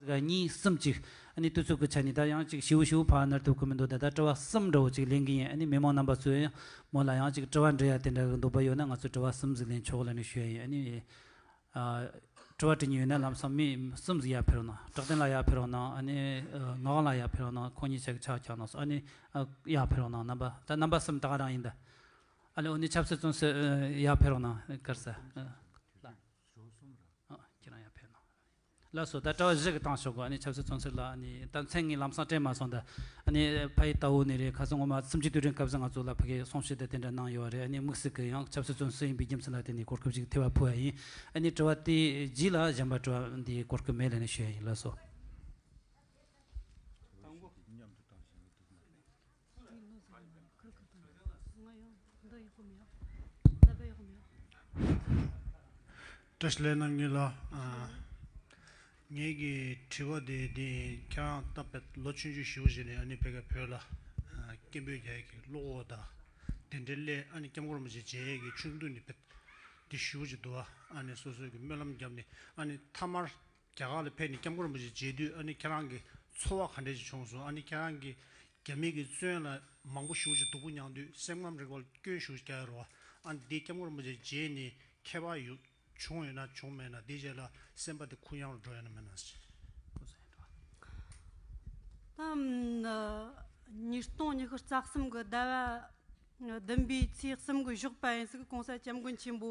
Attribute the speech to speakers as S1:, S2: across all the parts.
S1: གཉིས་གསུམ་གཅིག། ཨ་ནི་ཏུ་ཚོད་དགོས་ཆ་ནི་ད་ཡང་གཅིག་བྱིའུ་བྱིའུ་ཕག་ཨ་ནར་ཐུག་གི་མི་འདུག་ད་ལྟ་དྲི་བ་གསུམ་འདྲ་བོ་གཅིག་ལེན་གི་ཡིན་ཨ་ནི་མི་མང་རྣམ་པ་ཚོས་ཡང་མོ་ལ་ཡང་གཅིག་དྲི་བ་འདྲི་ཡ་དེ་འདྲ་གི་འདུག་བ་ཡོད་ན་ང་ཚོས་དྲི་བ་གསུམ་ཟིག་ལེན་ཆོག་ལ་ནི་ཞུ་ཡ་ཡིན་ཨ་ནི། དྲི་བ་དྲི་ཉིན་ཡོད་ན་ལམ་སང་མི་གསུམ་ཟིག་ཡར་ཕེབས་རོགས་གནང་བཀྲག་ལྡན་ལགས་ཡར་ཕེབས་རོགས་གནང་ཨ་ནི་ངག་དབང་ལགས་ཡར་ཕེབས་རོགས་གནང་ཁོང་གཉིས་ཆ་གི་ཕྱག་རྒྱག་གནང་སོང་ཨ་ནི། ཡར་ཕེབས་རོགས་གནང་རྣམ་པ་ད་རྣམ་པ་གསུམ་དག་རང་ཡིན་ད། ཨ་ལེ་ཨོ་ནི་ཆབ་སྲིད་བཙོན་སྲོལ་ཡར་ཕེབས་རོགས་གནང་དཀར་ཟ། ལ། ཁྱེད་རང་ཡར་ཕེབས་རོགས་གནང། ལ་སོ་ད་གྲྭ་བ་བཞི་གི་ཐང་ཤོག་གི་ཆབ་སྲིད་ཚོང་ཚོད་ལ་ད་མཚན་ངའི་ལམ་སང་དྲན་མ་སོང་ད་ཕ་ཡི་རྟ་བོ་ནས་རེད་ཁ་སང་ངོ་མ་སུམ་ཅུ་དུས་དྲན་སྐབས་སུ་ང་ཚོ་ལ་ཕ་གིས་གསུང་བཤད་དེ་དེ་འདྲ་གནང་ཡོད་བ་རེད་དམིགས་བསལ་གྱི་ཡང་ཆབ་སྲིད་ཚོང་ཟོས་ཡིན་པའི་རྒྱུ་མཚན་ལ་བརྟེན་ནས་གོ་སྐབས་ཤིག་ཐེ་བ་ཕུལ་བ་ཡིན་ཨ་དྲི་བ་དེའི་རྗེས་ལ་གཞན་པ་དྲི་བ་འདིའི་གོ་སྐབས་མེད་ལས་ནས་ཞུ་ཡ་ཡིན་ལ་སོ།
S2: བཀྲ་ཤིས་ལན། ངེད་ལ། ངེད་ཀྱི་དྲི་བ་དེ་འདི་ཡིན། ཁྱེད་རང་ལྟ་བུ་ལོ་བཅུ་བཅུ་བཞི་བོ་ཞིག་ནས་ཨ་ནི་བོད་སྐད་བོད་ལ། སྐད་འབོད་རྒྱ་ཡིག་གི་བློ་ཁོག་དང་དེ་འབྲེལ་སླད་ཨ་ནི་སྐྱབས་མགོན་རིན་པོ་ཆེ་མཇལ་ཡས་ཀྱི་ཆུང་དུས་ནས་བོད་འདི་བཞི་བོ་ཅིག་འདུལ་བ་ཨ་ནི་སོ་སོའི་གི་སྨོན་ལམ་རྒྱབ་ནས་ཨ་ནི་མཐའ་མར་རྒྱ་གར་ལ་ཕེབས་ནས་སྐྱབས་མགོན་རིན་པོ་ཆེ་མཇལ་དུས་ཨ་ནི་ཁྱེད་རང་གི་ཚོར་བ་ག་འདྲས་ཅིག་བྱུང་སོང་ཨ་ནི་ཁྱེད་རང་གིས་རྒྱ་མི་གི་བཙོན་ལ་མང་པོ་ཞུགས་ཅིང་སྡུག་པོ་མྱངས་དུས་སེམས་ཁམས་རིག་པ་ལ་སྐྱོན་ཞུགས་ཤིག་བྱ་ཡི་རོ། ཨ་ནི་འདིས་སྐྱབས་མགོན་རིན་པོ་ཆེ་མཇལ་ནས་ཁྱད་པར་བྱུང་ཡོད་ན་བྱུང་མེད་ན་དེའི་རྗེས་ལ་སེམས་པ་དེ་ཁུར་ཡང་རུ་འགྲོ་ཡོད་ན་མེད་
S3: ན། ཉིས་སྟོང་ཉི་ཤུ་རྩ་གསུམ་གྱི་ཟླ་བ་བདུན་པའི་ཚེས་གསུམ་གྱི་ཞོགས་པ་ཡིན་ཟིག་གོང་ས་སྐྱབས་མགོན་ཆེན་པོ་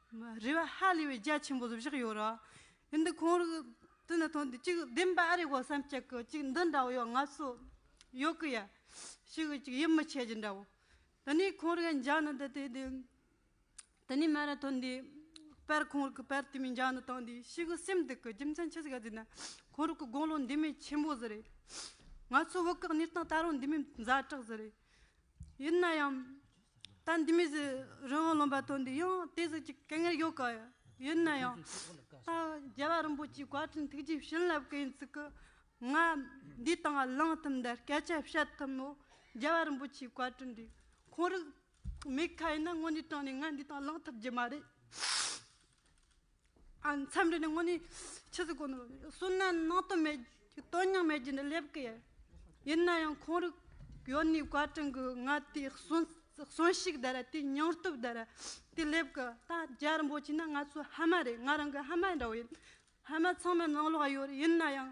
S3: རེ་བ་ཧ་ལས་པའི་རྒྱ་ཆེན་པོ་བཞག་ཡོད་རེད། འདི་ཁོང་རེ་དེ་ནས་ཐོན་དུས་གཅིག་བདེན་པ་ཨ་རེ་གོ་བསམ་གཅིག་གི་གཅིག་འདི་འདྲ་བོ་ཡོད་ང་ཚོ་ཡོད་གི་ཡ་ཞིག་གི་གཅིག་ཡིད་མི་ཆེས་རྒྱུ་འདྲ་བོ། དེ་ནས་ཁོང་རེ་ག་འཇགས་ནི་འདི་དེ་དེ། དེ་ནས་མ་རེ་ཐོན་དུས་དཔེར་ཁོང་རེ་གི་དཔེར་དེ་མིན་འཇགས་ནི་བཏང་དུས་ཞིག་གི་སེམས་སྡུག་གི་རྒྱུ་མཚན་ཆི་ཟིག་ག་ཟེར་ན་ཁོང་རེ་གི་དགུང་ལོ་འདི་མིན་ཆེན་པོ་ཟི་རེད། ང་ཚོ་བོད་སྐད་གཉེར་སྟངས་ད་རུང་འདི་མིན་ཛ་དྲག་ཟི་རེད། ཡིན་ན་ཡང། ད་འདི་མི་ཟེར་རི་བོང་ལོན་པ་དོན་འདི་ཡང་དེ་ཟེར་གྱི་སྐད་ངན་ཡོད་ག་ཡིན་ན་ཡང་ད་རྒྱལ་བ་རིན་པོ་ཆེའི་བཀའ་དྲིན་ཐུགས་རྗེས་བྱིན་རླབས་གི་ཡིན་ཚུལ་གྱི་ང་འདིའི་སྟེང་ལ་ལངས་ཐུབ་འདི་སྐད་ཆ་བཤད་ཐུབ་མོད་རྒྱལ་བ་རིན་པོ་ཆེའི་བཀའ་དྲིན་འདི་ཁོང་རིགས་མེད་ཁ་ཡིན་ན་དངོས་གནས་དྲང་ནས་ང་འདིའི་སྟེང་ལངས་ཐུབ་རྒྱུ་མ་རེད། མཚམས་རེ་ནི་སྔོན་ནས་ཕྱི་སུ་གོ་ནོར་བསོད་ནམས་ནང་དོན་མེད་དོན་སྙིང་མེད་རྒྱུ་འདི་སླེབས་ཀི་ཡོད་ཡིན་ན་ཡང་ཁོང་རུ་ཡོད་ནས་བཀའ་དྲིན་གི་ང་དེའི་གསོན་ཤུགས་དེ་ར་དེའི་སྙིང་སྟོབས་དེ་ར་དེ་སླེབས་ཀི་ད་རྒྱ་རིན་པོ་ཆེ་ནི་ང་ཚོའི་ཧ་མ་རེད་ང་རང་གི་ཧ་མ་འདྲ་བོ་ཡིན་ཧ་མ་ཚང་མའི་ནང་ལོགས་ཡོད་ཡིན་ན་ཡང་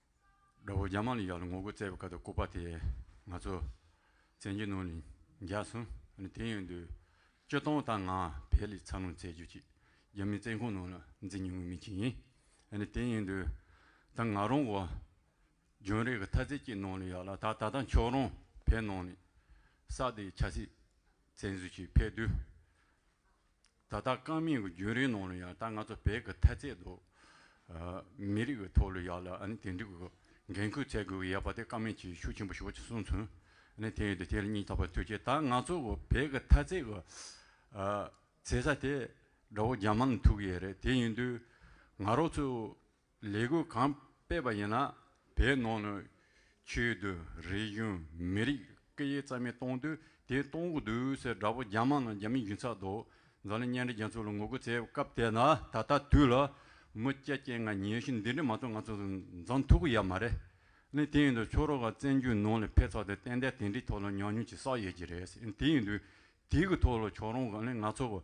S4: དགྲ་བོ་རྒྱ་དམར་ལ་ཡག་ལ་ངོ་རྒོལ་བརྩད་པའི་སྐབས་དང་ལྐུགས་པ་དེ་ང་ཚོ་བཙན་གྱི་ནང་ལ་འགྱག་སོང་ཨ་དེ་ཡོང་དུས་སྤྱི་སྟངས་དང་ང་ཕལ་ལས་འཚར་ལོངས་བྱེད་རྒྱུ་ཅིག་རྒྱ་མིའི་བཙན་ཁང་ནང་ལ་འཛིན་མྱོང་བའི་མི་ཞིག་ཡིན་ཨ་དེ་ཡོང་དུས་ད་ང་རང་བོ་ལྗོན་རིགས་ཀྱི་ཐ་ཚིག་ཅིག་ནང་ལ་ཡག་ལ་ད་ད་ལྟ་མཆོག་རང་བལ་ནང་ལ་ས་དེའི་ཆ་སྲིད་བཙན་བཟུང་ཞིག་ཕེབས་དུས། ད་ལྟ་རྐང་མིག་གི་རྒྱུན་རིང་ནང་ལ་ཡང་ད་ང་ཚོ་བོད་ཀྱི་ཐ་ཚད་དུ། མི་རིགས་ཀྱི་ཐོག་ལ་ཡག་ལ་ཨ་ནི་དེ་འགྲིག་གི་འགན་ཁུར་ཚད་དགོས་གི་ཡག་པ་དེ་རྐང་མིག་གྱིས་ཤུགས་ཆེན་པོ་ཞུགས་ཅིག་གསུངས་ཚུན། ཨ་ནི་དེ་ཡོད་དེ་དེ་ལ་སྙིང་ཐག་པ་ཐུག་རྗེས་ད་ང་ཚོ་གི་བོད་ཀྱི་ཐ་ཚད་གི། ཟེ་ས་དེ་དགྲ་བོ་རྒྱ་དམར་ནས་ཐུག་གི་ཡོད་རེད་དེ་ཡིན་དུས། ང་རོ་ཚོས་ལས་འགུལ་གང་སྤེལ་བ་ཡིན་ན་དེའི་ནང་ནས་ཆོས་བརྒྱུད་རིག་གཞུང་མི་རིགས་སྐད་ཡིག་རྩ་མེད་གཏོང་དུས་དེ་གཏོང་གི་འདུག་ཟེར་དགྲ་བོ་རྒྱ་དམག་ནང་རྒྱ་མི་འགྱིང་ཚག་འདུག་འཛམ་གླིང་གཉེན་སྒྲིག་རྒྱལ་ཚོགས་ལ་ངོ་རྒོལ་བྱས་པའི་སྐབས་དེ་ན་ད་ལྟ་དུས་ལ་མི་སྐྱ་སྐྱེས་ལྔ་ཉེས་གཞི་འདི་འདྲ་མ་ཚོགས་ང་ཚོ་འཛམ་ཐུག་གི་ཡ་མ་རེད་ནི་དེ་ཡིན་དུས་ཆོས་རོགས་ལ་བཙན་བྱོལ་ནང་ལ་ཕེབས་ཚར་དུས་གཏན་གཏན་དེ་འདྲའི་ཐོག་ལ་ཉམས་མྱོང་ཅིག་བསགས་ཡོད་ཀྱི་རེད་དེ་ཡིན་དུས་དེ་གི་ཐོག་ལ་ཆོས་རོགས་ལ་ང་ཚོ་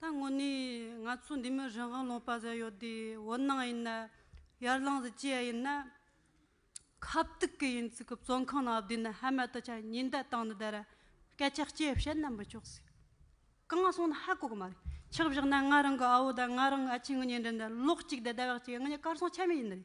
S3: ད་དངོས་གནས་ང་ཚོ་འདི་མི་རང་དབང་ལོངས་པ་ཟེར་ཡོད་དེ་འོད་སྣང་ཡིན་ན་ཡར་ལངས་སུ་བསྐྱལ་ཡིན་ན་ཁ་བཏུག་གི་ཡིན་ཚིག་གི་བཙོན་ཁང་ནང་བསྡུས་ནས་ཧ་མ་ད་ཆ་ཉིན་བརྡ་བཏང་ནས་དེར་སྐད་ཆ་སྐྱེ་བཤད་ན་མི་ཆོག་ཟིག་གང་སོང་ན་ཧ་གོ་གི་མ་རེད་ཆགས་བཞག་ན་ང་རང་གི་ཨ་བོ་དང་ང་རང་གི་ཨ་ཕྱི་ངེད་གཉིས་འདྲེས་ནས་ལོག་ཅིག་དེ་ལྟ་བ་ཅིག་ངེད་གཉིས་སྐར་སྲུང་ཆ་མེད་ཡིན་ནི་རེད།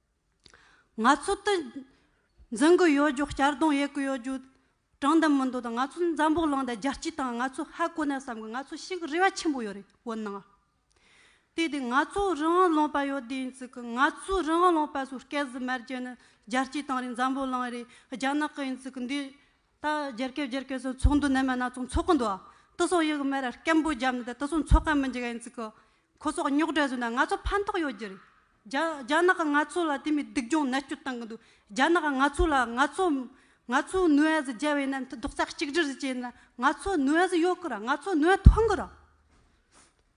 S3: ང་ཚོ་དེ་འཛིན་གི་ཡོད་རྒྱུ་གཅར་རྡུང་ཡེད་ཀྱི་ཡོད་རྒྱུ་དྲང་བདེན་མི་འདུག་དང་ང་ཚོ་འཛམ་བུ་གླིང་དང་རྒྱལ་སྤྱི་དང་ང་ཚོ་ཧ་གོ་ནས་བསམ་གི་ང་ཚོ་ཞིག་རེ་བ་ཆེན་པོ་ཡོད་རེད་བོད་ནང་ཨ་དེ་དེ་ང་ཚོ་རང་ལོངས་པ་ཡོད་དེ་ཡིན་ཚིག་གི་ང་ཚོ་རང་ལོངས་པ་སུ་སྐད་ཟི་མར་རྒྱལ་ནི་རྒྱལ་སྤྱི་དང་རེད་འཛམ་བུ་གླིང་རེད་རྒྱ་ནག་གི་ཡིན་ཚིག་གི་འདི་ད་རྒྱལ་སྐད་རྒྱལ་སྐད་ཟེར་ཚོགས་འདུ་ནན་མོ་སྣ་ཚོགས་འཚོགས་གི་འདུག་ཨ། ཏི་སོག་ཡིག་མེར་སྐད་འབོད་བརྒྱབ་ནས་ད་ཏི་སོག་འཚོགས་མཁན་མི་འཇིག་ཨེ་འཇིག་གི། ཁོ་སོག་རྙོག་གྲ་བཟོས་ན་ང་ཚོ་ཕན་ཐོག་ཡོད་ཀྱི་རེད། རྒྱ་རྒྱ་ནག་གི་ང་ཚོ་ལ་དེ་མི་སྡུག་སྦྱོང་ནད་བཅོས་བཏང་གི་འདུག་རྒྱ་ནག་གི་ང་ཚོ་ལ་ང་ཚོ་ང་ཚོ་ནུས་ཨེ་ཟི་རྒྱལ་བའི་ནད་མཐུ་རྡོག་རྩ་གཅིག་སྒྲིལ་ཟི་བྱས་ན་ང་ཚོ་ནུས་ཨེ་ཟི་ཡོད་གི་ར་ང་ཚོ་ནུས་ཨེ་ཐོན་གི་ར།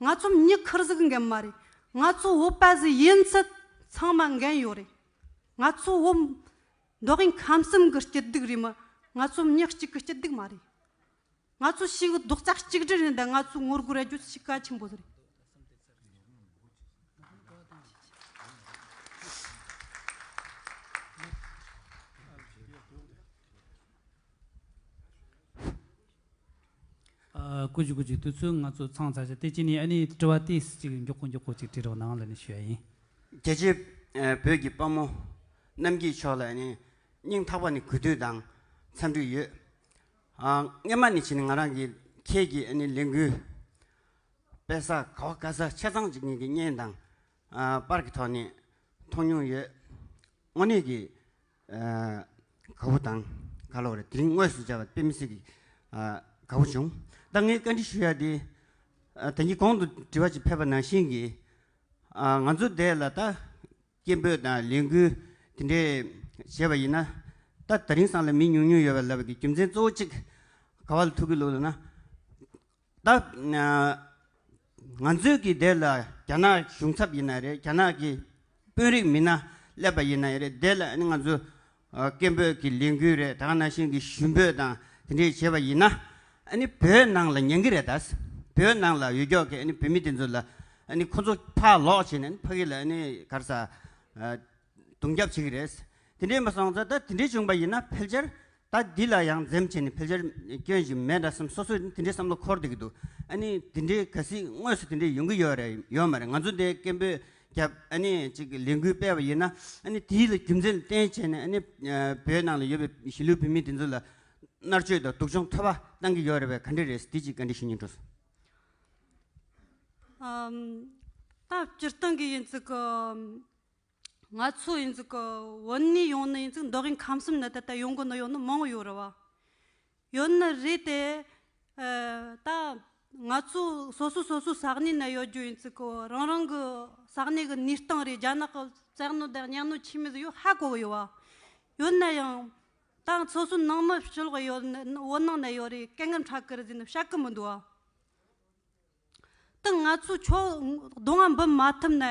S3: ང་ཚོ་མྱི་ཁུར་གཟིགས་འགན་མ་རེད་ང་ཚོ་བོད་པ་ཟིག་ཡིན་ཚད་ཚང་མ་འགན་ཡོད་རེད་ང་ཚོ་བོད་འབྲོག་གིང་ཁམས་གསུམ་གི་སྐྱིད་སྡུག་རེད་མ་ང་ཚོ་མྱི་གཅིག་གི་སྐྱིད་སྡུག་མ་རེད་ང་ཚོ་ཕྱི་གི་རྡོག་རྩ་གཅིག་སྒྲིལ་ཡིན་དང་ང་ཚོ་ངོ་རྒོལ་ར་རྒྱུ་ཕྱི་ག་ཆེན་པོ་རེད།
S1: ཀུ་ཅི་ཀུ་ཅི་དུས་ཚོད་ང་ཚོ་ཚང་བྱ་ཞེས་ཏེ་ཅི་ནས་ཨ་ནི་དྲི་བ་དེས་ཅིག་མགྱོགས་པོ་མགྱོགས་པོ་ཅིག་དྲི་རོགས་གནང་ལ་ནི་ཞུ་ཡ་ཡིན། རྒྱལ་གཅེས་
S5: བོད་ཀྱི་དཔའ་མོ་རྣམ་སྐྱིད་མཆོག་ལ་ནི་སྙིང་ཐག་པ་ནི་གུས་འདུད་དང་འཚམས་འདྲི་ཡོད། སྔན་མ་ནི་ཕྱིན་ནི་ང་རང་གིས་ཁྱེད་ཀྱི་ཨ་ནི་ལས་འགུལ་སྤེལ་ས་ག་བ་ག་ས་ཆ་ཚང་ཅིག་ཉིད་ཀྱི་བརྙན་དང་པར་གྱི་ཐོག་ནས་མཐོང་མྱོང་ཡོད། དངོས་གནས་ཀྱི། ག་བུ་དང་ག་ལོག་རེད་དེ་རིང་དངོས་སུ་བྱ་བ་དཔེ་མི་སྲིད་གི། ག་བུ་བྱུང། ད་ངས་བཀའ་འདྲི་ཞུ་ཡ་དེ། དེ་གཉིས་གོང་དུ་དྲི་བ་ཅིག་ཕེབས་པ་ནང་བཞིན་གྱི། ང་ཚོ་འདས་ལ་ད་སྐད་འབོད་དང་ལས་འགུལ་དེ་འདྲས་བྱས་པ་ཡིན་ན། ད་ད་རིང་སང་ལ་མི་ཉུང་ཉུང་ཡོད་པ་ལབ་པའི་རྒྱུ་མཚན་གཙོ་བོ་གཅིག་ག་བ་ལ་ཐུག་གི་ལུགས་ལ་ན། ང་ཚོའི་གི་དེ་ལ་རྒྱ་ནག་གཞུང་ཚབ་ཡིན་ན་རེད་རྒྱ་ནག་གི་དཔོན་རིགས་མི་སྣ་སླེབས་པ་ཡིན་ན་རེད་དེ་ལ་ང་ཚོ་སྐད་འབོད་གི་ལས་འགུལ་རེད་ད་ནང་བཞིན་གི་ཞུ་འབོད་དང་དེ་འདྲས་བྱེད་པ་ཡིན་ན་བོད་ནང་ལ་ཉན་གི་རེད་ད་བོད་ནང་ལ་ཡོད་ཀྱོག་གི་བོད་མི་དེ་ཚོ་ལ་ཁོ་ཚོ་ཕར་ལོག་བྱས་ནས་ཕ་གི་ལ་གར་ས་རྡུང་རྒྱབ་བྱེད་གི་རེད་དེ་འདྲས་མ་སོང་ད་དེ་འདྲས་བྱུང་པ་ཡིན་ན་ཕལ་ཆེར་ད་འདི་ལ་ཡང་འཛེམ་བྱས་ནས་ཕལ་ཆེར་སྐྱོན་བཞིན་མེད་འདྲ་སེམས་སོ་སོས་དེ་འདྲའི་བསམ་བློ་འཁོར་བསྡད་ཀྱི་འདུག་ཨ་ནི་དེ་འདྲའི་གལ་སྲིད་དངོས་སུ་དེ་འདྲའི་ཡོང་གི་ཡོད་རེད་ཡོད་མ་རེད་ང་ཚོ་འདི་སྐད་འབོད་རྒྱབ་ཨ་ནི་ཅིག་ལས་འགུལ་སྤེལ་བ་ཡིན་ན་ཨ་ནི་དེའི་ལ་རྒྱུ་མཚན་ལ་བརྟེན་བྱས་ནས་ཨ་ནི་བོད་ནང་ལ་ཡོད་པའི་གཞིས་ལུས་བོད་མི་དེ་ཚོ་ལ་མནར་གཅོད་དང་སྡུག་སྦྱོང་འཐོལ་པ་བཏང་གི་ཡོད་རེད་བས་ག་འདྲ་རེད་དེ་ཅིག་ག་འདྲའི་ཤེས་ཉེན་འགྲོ་སོང། ད་སྤྱིར་
S3: བཏང་གི་ཡིན་ཙི་གི། ང་ཚོ་ཡིན་ཙུག་གི་བོད་ནས་ཡོང་ནི་ཡིན་ཙུག་མདོག་གིན་ཁམས་གསུམ་ནི་ད་ལྟ་ཡོང་གི་ནི་ཡོང་ནི་མང་ཡོད་རེད་བ། ཡོད་ནི་རེད་དེ། ད་ང་ཚོ་སོ་སོ་སོ་སོ་ས་གནས་ནས་ཡོད་རྒྱུ་ཡིན་ཙུག་གི་རང་རང་གི་ས་གནས་གི་ནུས་སྟངས་རེད་རྒྱ་ནག་གི་བཙན་གནོད་དང་གཉའ་གནོད་ཆེ་མི་ཟིག་ཡོད་ཧ་གོ་གི་ཡོད་བ། ཡོད་ནི་ཡང་ད་སོ་སོ་ནང་མི་ཕྱི་ལོག་ཡོད་ནི་བོད་ནང་ནས་ཡོད་རེད་སྐད་ངན་ཕྲ་ཀི་རེད་ཟེར་ནི་བཤད་ཀི་མི་འདུག་བ། དང་ང་ཚོས་ཕྱོགས་བསྡོམས་འབུལ་མ་ཐུབ་ན་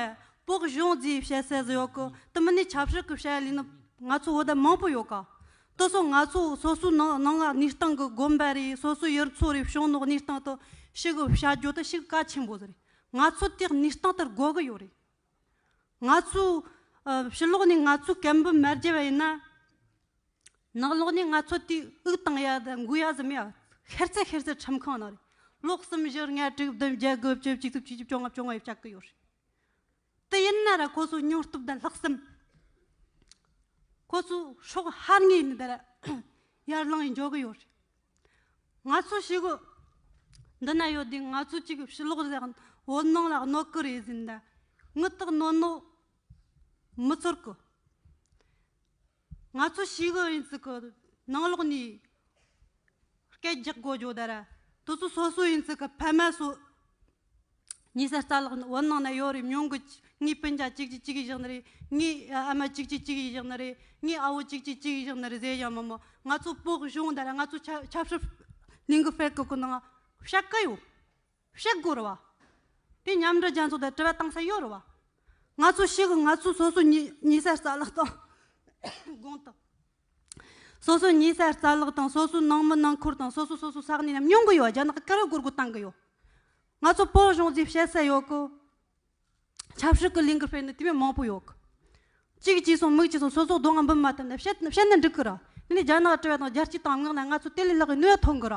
S3: བོགས་གཞོན་རྫས་བཤད་སའི་གཟི་ཡོག་གི་དུ་མི་ནས་ཆབ་སྲིད་ཀྱི་བཤད་ལེན་ནི་ང་ཚོ་བོད་དང་མང་པོ་ཡོད་ཀ་དུ་སོང་ང་ཚོ་སོ་སོའི་ནང་ནང་གནས་སྟངས་ཀྱི་དགོན་པ་རེད་སོ་སོའི་ཡུལ་ཚོ་རེད་བྱུང་ནང་གནས་སྟངས་དུ་ཞུགས་བྱ་རྒྱུ་དེ་ཞིག་གལ་ཆེན་པོ་རེད་ང་ཚོ་དེ་གནས་སྟངས་དེར་དགོས་ཀྱི་ཡོད་རེད་ང་ཚོའི་ཕྱི་ལོགས་ནས་ང་ཚོའི་སྐད་འབོད་མ་རྒྱས་པ་ཡིན་ན། ནག་ལོག་ནས་ང་ཚོ་དུས་དབུགས་དང་ཡ་ཟ་འགུ་ཡ་ཟིམ་ཡ་ཤེར་ཚད་ཤེར་ཚད་ཁྲིམས་ཁང་ནང་རེད་ལོག་གསུམ་བཞི་ལྔ་དྲུག་བདུན་བརྒྱད་དགུ་བཅུ་གཅིག་བཅུ་གཅིག་བཅུ་བཅོ་ལྔ་བཅོ་ལྔ་ཡོད་ཆགས་ཀི་ཡོད་རེད་དེ་ཡིན་ན་ར་ཁོ་ཚོ་ཉོ་སྟོབས་ལྡན་ལྷག་བསམ་ཁོ་ཚོ་ཤོག་ཧར་ངེས་ཡིན་དེ་ར་ཡར་ལངས་ཡིན་འཇོག་གི་ཡོད་རེད་ང་ཚོ་ཞི་གོ་འདི་ན་ཡོད་དུས་ང་ཚོ་གཅིག་ཕྱི་ལོག་ཟེར་ཡང་བོད་ནང་ལ་གནོད་གི་རེད་ཟིན་ད་དངུལ་དག་གནོད་ནོ་མི་ཚོར་གི། ང་ཚོ་ཞིག་ཨུ་ཡོན་ཚུགས་ཀྱི་ནང་ལོགས་ནས་སྐད་རྒྱག་དགོས་བྱུང་དར་དུ་ཚོ་སོ་སོ་ཡོན་ཚུགས་ཀྱི་ཕ་མ་སོགས་ཉེ་སར་རྩ་ལག་བུན་ནང་ན་ཡོད་རེད་མྱོང་གི་ངའི་སྤུན་ཆ་གཅིག་གཅིག་གཅིག་གིས་བཞག་ནི་རེད་ངའི་ཨ་མ་གཅིག་གཅིག་གཅིག་གིས་བཞག་ནི་རེད་ངའི་ཨ་བོ་གཅིག་གཅིག་གཅིག་གིས་བཞག་ནི་རེད་ཟེར་བཞག་མོ་མོ་ང་ཚོ་སྤོགས་བྱུང་དར་ང་ཚོ་ཆབ་སྲིད་གླིང་གི་ཕལ་གྱི་གི་ནང་བཤད་གི་ཡོད་གཤེགས་སྒོ་རུ་བ། དེ་མཉམ་འབྲེལ་རྒྱལ་ཚོགས་དང་དྲི་བ་གཏང་ས་ཡོད་རུ་བ། ང་ཚོ་གཤེགས་སྒོ་ང་ཚོའི་སོ་སོའི་ཉེས་སར་རྩ་བརླག་དང། དགོངས་དག། སོ་སོའི་ཉེས་སར་རྩ་བརླག་དང་སོ་སོའི་ནང་མི་ནང་འཁུར་དང་སོ་སོ་སོ་སོའི་ས་གནས་རྣམས་སྙོམས་གི་ཡོད་རྒྱ་ནག་གི་ཀ་རི་གུར་གུ་བཏང་གི་ཡོད། ང་ཚོ་བོད་གཞུང་འཛིན་བྱེད་ས་ཡོད་གི། ཆབ་སྲིད་ཀི་ལིང་གི་སྤེལ་ནི་དེ་མིན་མང་པོ་ཡོད་གི། གཅིག་གཅིག་སོང་མིག་གཅིག་སོང་སོ་སོ་སྡོད་ང་འབུམ་མ་ཐུབ་ན་བཤད་ནི་འགྲིག་གི་ར། དེ་ནས་རྒྱ་ནག་དྲི་བ་དང་རྒྱལ་སྤྱིའི་དམ་ངག་ལ་ང་ཚོ་དེ་ལས་ལྷག་གི་ནུས་བ་ཐོན་གི་ར།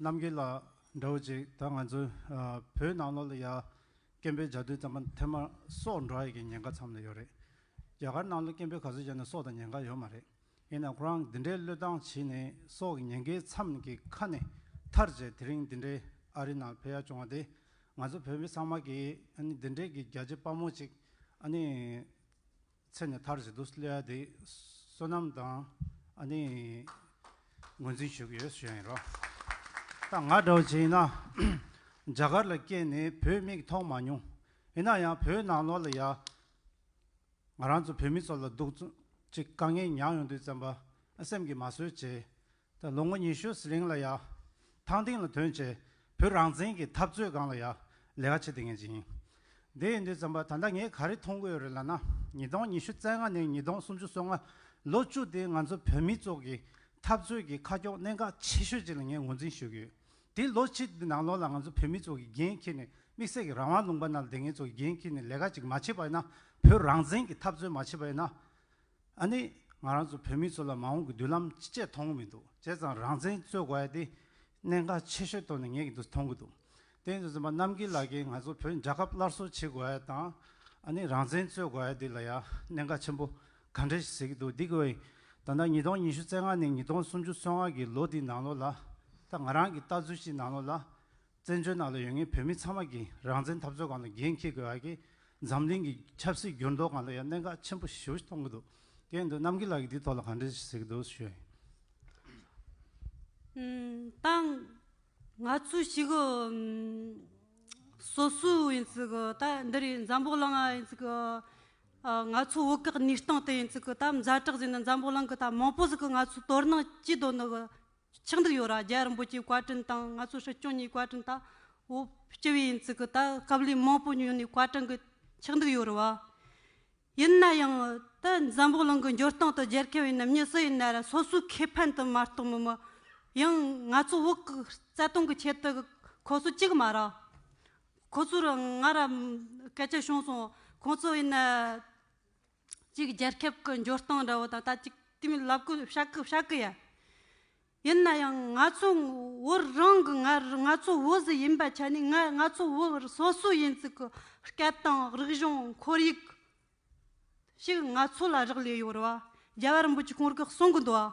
S2: རྣམ་རྒྱལ་ལགས་འདྲ་བོ་ཅིག་ད་ང་ཚོའི་བོད་ནང་ལོག་ལ་ཡ་སྐན་པའི་ལྗགས་ལྡུད་ཙམ་པ་འཐེན་མ་སོགས་འགྲོ་ཡི་གི་ཉེན་ཁ་ཚམ་ལ་ཡོད་རེད་རྒྱ་གར་ནང་ལོག་སྐན་པའི་ག་ཚོད་ཅན་ནི་སོགས་དང་ཉེན་ཁ་ཡོད་མ་རེད་ཡིན་ནའང་ཁོ་རང་འདི་འདྲའི་བློས་བཏང་བྱིས་ནས་སོགས་ཀྱི་ཉེན་ཁའི་ཚམ་གྱི་ཁ་ནས་ཐར་རྗེས་དེ་རིང་འདི་འདྲའི་ཨ་རི་ནང་ཕེབས་ཡ་བྱུང་བ་དེ་ང་ཚོ་བོད་མི་ཚང་མ་གིས་ཨ་ནི་འདི་འདྲའི་གི་རྒྱ་ཆེ་དཔའ་མོ་ཅིག་ཨ་ནི། ཚེ་ནས་མཐར་བྱེད་དུ་སླེལ་བ་དེ་བསོད་ནམས་དང་ཨ་ནི་ངོས་འཛིན་ཞུ་གི་ཡོད་ཞུ་ཡིན་རོགས། ད་ང་འདྲ་བོ་ཅིག་ཡིན་ན་རྒྱ་གར་ལ་སྐྱེས་ནས་བོད་མིག་མཐོང་མ་མྱོང། ཡིན་ན་ཡང་བོད་ནང་ལོགས་ལ་ཡ། ང་རང་ཚོ་བོད་མི་ཚོ་ལ་སྡུག་ཅིག་དཀའ་ངལ་མྱངས་ཡོང་དུས་བཙན་པ་སེམས་ཀྱི་མ་བཟོད་ཅེས་ད་ལོ་ངོ་ཉི་ཤུ་ཟི་ལིང་ལ་ཡ། ཐང་ཏིང་ལ་དོན་བྱས། བོད་རང་བཙན་གྱི་འཐབ་རྩོད་སྒང་ལ་ཡ། ལས་ཀ་བྱེད་དེ་ངེས་ཅིང། དེ་ཡིན་དུས་བརྩམས་པ་ད་ལྟ་ངས་ག་རེ་མཐོང་གི་ཡོད་རེད་ལབ་ན། ཉིས་སྟོང་ཉི་ཤུ་རྩ་ལྔ་ནས་ཉིས་སྟོང་སུམ་ཅུ་སོ་ལྔ། ལོ་བཅུ་དེ་ང་ཚོ་བོད་མི་ཚོགས་ཀྱི་འཐབ་རྩོད་ཀྱི་ཁ་ཁྱོག་གནད་འགག་ཆེ་ཤོས་ཅིག་ལ་ངས་ངོས་འཛིན་ཞུ་གི་ཡོད། དེ་ལོ་གཅིག་དེ་ནང་ལོགས་ལ་ང་ཚོ་བོད་མི་ཚོགས་ཀྱི་འགན་འཁྱེར་ནས་དམིགས་བསལ་གྱི་རང་དབང་ལུང་པ་ན་ལ་དེ་ངེད་ཚོ་གི་འགན་འཁྱེར་ནས་ལས་ཀ་ཅིག་མ་བྱེད་པ་ཡིན་ན། བོད་རང་བཙན་གྱི་འཐབ་རྩོད་མ་བྱེད་པ་ཡིན་ན། ཨ་ནི། ང་རང་ཚོ་བོད་མི་ཚོ་ལ་མ་འོངས་ཀྱི་མདུན་ལམ་ཅི་བྱས་མཐོང་གི་མི་འདུག་བྱས་ཙང་རང་བཙན་རྩོད་དགོས་ཡ་དེ་གནད་འགག་ཆེ་ཤོས་ཐོག་ནས་ངེས་ཀྱི་འདུག་མཐོང་གི་འདུག་བསྟན་དུ་སོན་པ་རྣམ་རྒྱལ་ལགས་ཀྱིས་ང་ཚོ་བོད་རྒྱལ་ཁབ་སླར་གསོ་བྱེད་དགོས་ཡ་དང་ཨ་ནི་རང་བཙན་རྩོད་དགོས་ཡ་དེ་ལ་ཡ་གནད་འགག་ཆེན་པོ་ག་འདྲ་ཞིག་ཟེར་གྱི་འདུག་འདི་གི་བའི་ད་ལྟ་ཉིས་སྟོང་ཉི་ཤུ་རྩེ་ལྔ་ནས་ཉིས་སྟོང་སུམ་ཅུ་སོ་ལྔ་གྱི་ལོ་དེའི་ནང་ལོ་ལ་ད་ང་རང་གྱི་ལྟ་ཚུལ་གྱི་ནང་ལོ་ལ་བཙན་བྱོལ་ནང་ལ་ཡོད་ངེས་བོད་མི་ཚང་མ་གིས་རང་བཙན་འཐབ་རྩོད་གང་ལ་འགན་འཁྱེར་དགོས་ཡ་གིས་འཛམ་གླིང་གི་ཆབ་སྲིད་འགྱུར་ལྡོག་གང་ལ་ཡ་གནད་འགག་ཆེན་པོ་ཞུ་གཏོང་གི་འདུག་སྐད་འདུག་རྣམ་རྒྱལ་ལགས་ཀྱིས་འདིའི་ཐོག་ལ་གང་འདྲི་ཟེར་གི་འདུག་ཞུས།
S3: ཏང། ང་ཚོས་ཞིག་གི། སོ་སོའི་ཡིན་ཚུལ་གི་ད་འདི་རུ་འཛམ་བོག་གླིང་ཡིན་ཚུལ་གི། ང་ཚོ་བོད་སྐད་ནུས་སྟངས་དེ་ཡིན་ཚུལ་གི་ད་མཛའ་གྲགས་ཟེར་ན་འཛམ་བོག་གླིང་གི་ད་མང་པོ་ཟིག་གི་ང་ཚོ་དོ་སྣང་ཅི་འདོད་ནུ་གི་ཆགས་འདུག་ཡོད་ར་རྒྱལ་རིན་པོ་ཆེའི་བཀའ་དྲིན་དང་ང་ཚོ་སྲིད་སྐྱོང་གཉིས་བཀའ་དྲིན་དང་བོ་སྐྱི་བའི་ཡིན་ཚུལ་གི་ད་སྐབས་ལས་མང་པོ་ཉོས་ནས་བཀའ་དྲིན་གི་ཆགས་འདུག་ཡོད་ར་བ། ཡིན་ན་ཡང་ད་འཛམ་བུ་གླིང་གི་འགྱུར་སྟངས་དང་རྒྱལ་ཁའི་བའི་ནམ་ཉིན་སུ་ཡིན་ན་ར་སོ་སོའི་ཁེ་ཕན་དུ་མ་གཏོགས་མི་མི་ཡང་ང་ཚོ་བོད་གི་རྩ་དོན་གི་ཆེད་དུ་ཁོ་ཚོ་གཅིག་མ་ར་ཁོ་ཚོ་ར་ང་ར་སྐད་ཆ་བྱུང་སོང་ཁོང་ཚོ་ཡིན་ན། གཅིག་རྒྱལ་ཁབ་ཀྱི་འབྱོར་སྟངས་འདྲ་བོ་དང་ད་ཅིག་དེ་མིན་ལབ་དགོས་བྱ་དགོས་བྱ་དགོས་ཡ། ཡིན་ན་ཡང་ང་ཚོ་བོད་རང་གི་ང་ང་ཚོ་བོད་ཟི་ཡིན་པ་ཆ་ནས་ང་ང་ཚོ་བོད་སོ་སོ་ཡིན་ཚུལ་གྱི་སྐད་དང་རིག་གཞུང་ཁོར་ཡུག་ཞིག་ང་ཚོ་ལ་རག་ལས་ཡོད་རེད་བ་རྒྱ་གར་འབོད་ཀྱི་གོང་རྒྱག་གསུང་གི་འདུག་བ།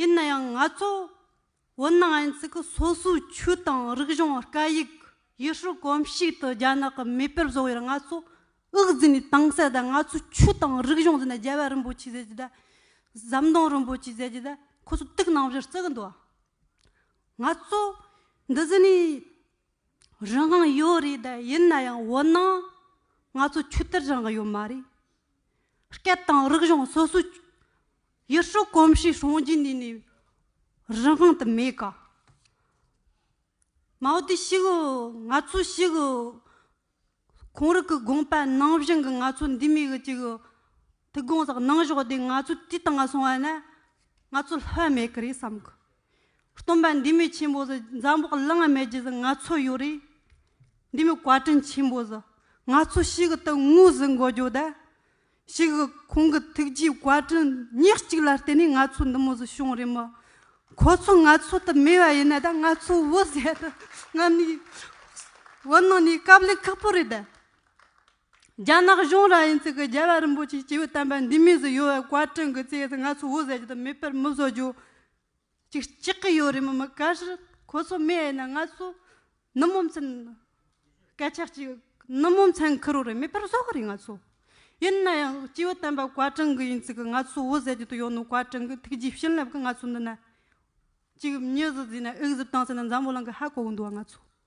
S3: ཡིན་ན་ཡང་ང་ཚོ་ཝུའུ་ནན་ཨན་ཙི་གི་སོ་སོའི་ཆོས་དང་རིག་གཞུང་སྐད་ཡིག་ཡུལ་སྲོལ་གོམས་གཤིས་དང་རྒྱ་ནག་གི་མེས་པོར་བཟོ་བའི་ང་ཚོ་དབུགས་འཛིན་ནས་དྭངས་གསལ་དང་ང་ཚོའི་ཆོས་དང་རིག་གཞུང་འཛིན་ན་རྒྱལ་བ་རིན་པོ་ཆེ་ཟེར་གྱི་དང་ཟམ་གདོང་རིན་པོ་ཆེ་ཟེར་གྱི་དང་ཁོ་ཚོ་དུག་ནང་བཞིན་རྩི་གི་འདུག་ང་ཚོ་འདི་ཟིན་ནས་རང་དབང་ཡོད་རེད་ད་ཡིན་ན་ཡང་འོ་ན་ང་ཚོ་ཆོས་དད་རང་ཡོད་མ་རེད། སྐད་དང་རིག་གཞུང་སོ་སོ་ཡུལ་སྲོལ་གོམས་གཤིས་སྲོང་བརྒྱུད་ནས་ནས་རང་དབང་དུ་མེད་ཀ། མའོ་ཏི་ཞིག་ང་ཚོ་ཞིག། ཁོང་རིགས་ཀྱི་དགོངས་པ་ནང་བཞིན་གྱི་ང་ཚོ་འདི་མི་གི་གཅིག་གི་ཐུགས་དགོངས་དག་གནང་ཞོག་དེ་ང་ཚོ་དུས་དང་སོང་བ་ན་ང་ཚོ་ལྷོད་མེད་ཀྱི་རེད་བསམ་གི། སྟོན་པ་འདི་མི་ཆེན་པོ་ཟི་འཛམ་བུ་གླིང་མེད་རྗེས་སུ་ང་ཚོ་ཡོད་རེད། འདི་མི་བཀའ་དྲིན་ཆེན་པོ་ཟི་ང་ཚོ་ཞིག་གི་དུ་དངོས་ཟི་འགོ་རྒྱོ་ད། ཞིག་གི་ཁོང་གི་ཐུགས་རྗེའི་བཀའ་དྲིན་ཉག་གཅིག་ལ་བརྟེན་ནས་ང་ཚོ་འདི་མོ་ཟི་བྱུང་རེད་མོད། ཁོ་ཚོ་ང་ཚོ་དང་མེད་པ་ཡིན་ན་ད་ང་ཚོ་བོད་ཟས་དང་རྔ་མའི་བོད་ནང་ནས་སྐབས་ལེགས་ཁག་པོ་རེད། རྒྱ་ནག་གཞུང་རང་ཡིན་ཚུལ་གྱི་རྒྱལ་བ་རིན་པོ་ཆེའི་སྐྱེས་བུ་དམ་པ་འདི་མོས་ཟི་ཡོད་བའི་བཀའ་དྲིན་གྱི་རྩེ་ཡིས་ང་ཚོ་བོད་ཟས་ཀྱི་དང་མེད་པར་མི་བཟོ་རྒྱུ། ཅིག་ཅིག་གི་ཡོད་རེད་མི་མི་ག་ཞིག་ཁོ་ཚོ་མེད་ཡིན་ན་ང་ཚོ་ནུབ་མོ་མཚན་སྐད་ཆ་གཅིག་ནུབ་མོ་མཚན་ཁུ་རུ་རེད་མེད་པར་བཟོ་གི་རེད་ང་ཚོ་ཡིན་ན་ཡང་སྤྱི་བོ་བསྟན་པ་བཀའ་དྲིན་གྱི་ཡིན་ཚིག་གི་ང་ཚོ་བོད་ཟེར་རྒྱུ་དེ་ཡོད་ནོ་བཀའ་དྲིན་གྱི་ཐུགས་རྗེ་བྱིན་རླབས་ཀྱི་ང་ཚོ་འདི་ན་གཅིག་མྱི་ཟིག་བཟོས་ན་དབྱིག་གཟུགས་བཏང་ཟེར་ན་འཛམ་བུ་གླིང་གི་ཧ་གོ་གི་འདུག་ང་ཚོ།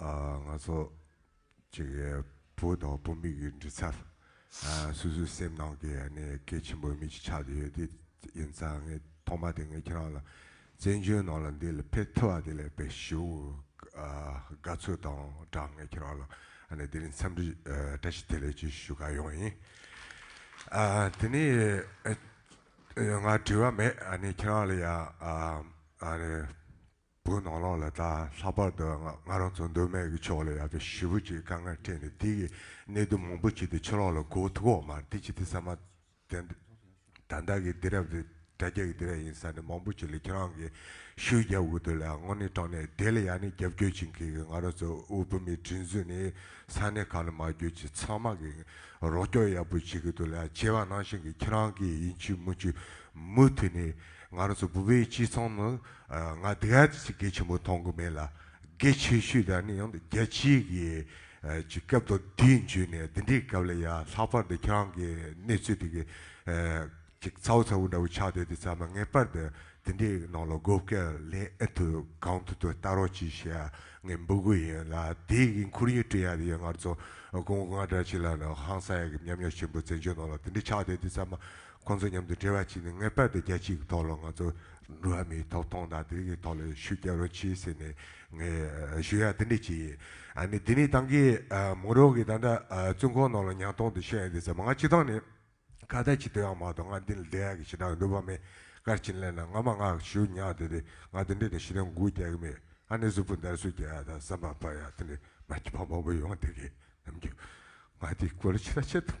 S6: ང་ཚོ་གཅིག་གི་བུ་དང་བུ་མོ་གི་འབྲི་ཚབ་སོ་སོའི་སེམས་ནང་གི་གལ་ཆེན་པོ་མི་གཅིག་ཆགས་ཀྱི་ཡོད་དེ་ཡིན་ཙང་ངས་ཐོག་མ་དེ་ངས་ཁྱེད་རང་ལ་བཙན་བྱོལ་ནང་ལ་འདི་ལ་ཕེབས་ཐུབ་བ་དེ་ལས་པའི་ཞི་བའི་དགའ་ཚོར་དང་སྦྲགས་ངས་ཁྱེད་རང་ལ་དེ་རིང་འཚམས་འདྲི་བཀྲ་ཤིས་བདེ་ལེགས་ཞུ་དགའ་ཡོང་ཡིན། དེ་ནས་ང་དྲི་བ་མེད་ཁྱེད་རང་ལ་ཡང་བུ་ནོར་ལོག་ལ་དྭགས་ལྷག་པར་དུ་ང་རང་ཚོ་མདོ་སྨད་ཀྱི་ཕྱོགས་ལ་ཡག་པའི་ཞི་བུ་ཅིག་དཀའ་ངལ་འཕྲད་ནས་དེ་ཡི་གནད་དོན་མང་པོ་བྱས་ཏེ་ཕྱི་ལོག་ལ་གོ་ཐུག་འོག་མར་འདི་བྱས་ཏེ་ཟེར་མ་ཐལ། ད་བདག་གི་སྡེ་རབས་དེ་དགྲ་རྒྱ་གི་སྡེ་ར་ཡིན་ས་ནས་མང་པོ་བྱས་ལ་ཁྱེད་རང་གི་ཤུལ་རྒྱབ་དབུ་དེ་ལ་དངོས་གནས་དྲང་ནས་དེ་ལ་ཡང་ནི་རྒྱབ་སྐྱོར་བྱེད་མཁན་གྱི་ང་རང་ཚོ་དབུ་བོད་མིའི་དྲིན་གཟོས་ནི་ས་གནས་གང་ལ་མ་བསྐྱོད་ཅིག་ཚང་མ་གི་རོགས་སྐྱོར་ཡག་པོ་བྱེད་གི་འདུག་ལ་བྱས་པ་ནང་བཞིན་གྱི་ཁྱེད་རང་གི་ཡིན་ཆུ་མིན་ཆུ་མུ་མཐུད་ནས་ང་རང་ཚོ་བུ་བོའི་སྤྱི་ཚང་ནང་ང་སྡིག་ཨ་ཅེ་ཆེ་གེ་ཆེན་པོ་མཐོང་གི་མེད་ལ་དགེ་ཆེ་ཤོས་དག་ནི་ཡང་རྒྱལ་སྤྱིའི་གི་ཀྱི་སྐབས་དང་དེའི་མཇུག་ནས་འདི་འདྲའི་སྐབས་ལ་ཡ་ལྷག་པར་དུ་ཁྱེད་རང་གི་གནས་ཚུལ་དེ་གི་ཅིག་ཚ་བོ་ཚ་བོ་འདྲ་བོ་ཆགས་བསྡད་དེ་ཚང་མ་ངེས་པར་དུ་དེ་འདྲའི་ནང་ལ་དགོས་སྐལ་ལེན་ཨེ་ཐུབ་གང་ཐུབ་དུ་ལྟ་རོགས་གྱིས་ཞེས་ངས་འབོད་དགོས་ཡིན་ལ་དེའི་གི་འཁུར་ཡིག་སྤྲོད་ཡག་དེ་ཡོད་ངར་ཚོ་སྐུ་ངོ་ང་འདྲ་གཅིག་ལ་ནི་ཧང་སང་ཡག་གི་མཉམ་ཉོག་ཆེན་པོ་བཙན་བྱོལ་ནང་ལ་དེ་འདྲའི་ཆགས་བསྡད་དེ་ཚང་མ་ཁོང་ཚོ་མཉམ་དུ་འབྲེལ་བ་བྱས་ནས་ངེས་པར་དུ་རྒྱལ་སྤྱིའི་གི་ཐོག་ལ་ང་ཚོ་ནུ་ཨ་མིའི་ཐོབ་ཐང་དང་དེ་གི་ཐོག་ལ་ཤུགས་རྒྱག་རོགས་གྱིས་ཟེར་ནས་ངས་ཞུ་ཡག་དེ་འདྲས་བྱས་ཡིན་ཨ་ནི་དེ་ནི་ཏང་གི་མུ་རོགས་གི་ད་འདྲ་བཙུན་ཁོག་ནང་ལ་ཉང་སྟོང་དུ་ཤོད་ཡ་དེ་ཟེར་མ་ང་སྤྱི་ཐང་ནས་ཁ་བརྡ་བྱེད་དུས་ཡང་མ་གཏོགས་ང་འདི་ལ་བསྡད་ཡག་གི་ཞེ་དྲག་གི་འདོད་པ་མེད་སྐར་ཆེན་ལན་ལ་ང་མ་ངག་ཞུ་ཉག་དེ་དེ་ང་དེ་འདྲས་ནས་ཤི་དོན་འགུག་རྒྱག་གི་མེད་ཨ་ནི་གཟུགས་པོ་འདར་གཟུགས་རྒྱག་ཡག་དང་བསམ་པ་འཕར་ཡག་དེ་འདྲས་མ་སྐྱིད་ཕང་ཕང་པོ་ཡོང་བ་དེ་གི་ནམ་རྒྱུན་ང་དེ་སྐོར་ལ་ཕྱི་ལ་ཆེ་ཐུབ།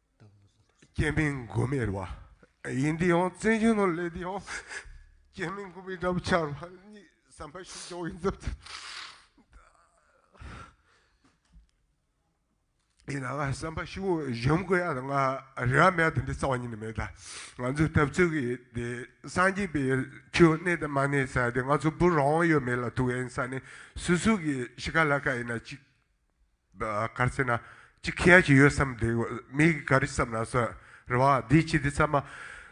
S6: སྐྱེ་མེད་མགོན་མེད་བ་ཡིན་འདི་ཡང་བཙན་བྱོལ་ནང་ལས་འདི་ཡང་སྐྱེ་མེད་མགོན་མེད་འདྲ་པོ་ཆགས་པ་གཉིས་བསམ་པ་ཞིག་ཡོང་གི་འདུག་ཡིན་ནའང་བསམ་པ་ཞིག་གཞོམ་དགོས་ཡ་ང་རེ་བ་མེད་དེ་འདྲའི་རྩ་བ་ཉིད་ནས་མེད་ད་ང་ཚོའི་ཐབས་ཚུལ་གྱི་དེ་སངས་རྒྱས་པའི་ཆོས་གནས་དང་མ་གནས་ས་དེ་ང་ཚོ་བུ་རང་ཡོད་མེད་ལ་ཐུག་ཡིན་ས་ནི་སུ་སུ་གི་ཤི་ཁ་ལ་ཁ་ཡིན་ན་ཅིག་གར་ཟེར་ན་ཅི་ཁྱི་ཡ་ཞིག་ཡོད་བསམ་དེ་མིག་གིས་ག་རེ་བསམ་ན་སོ། རེ་བ། འདི་ཅི་འདི་བསམ།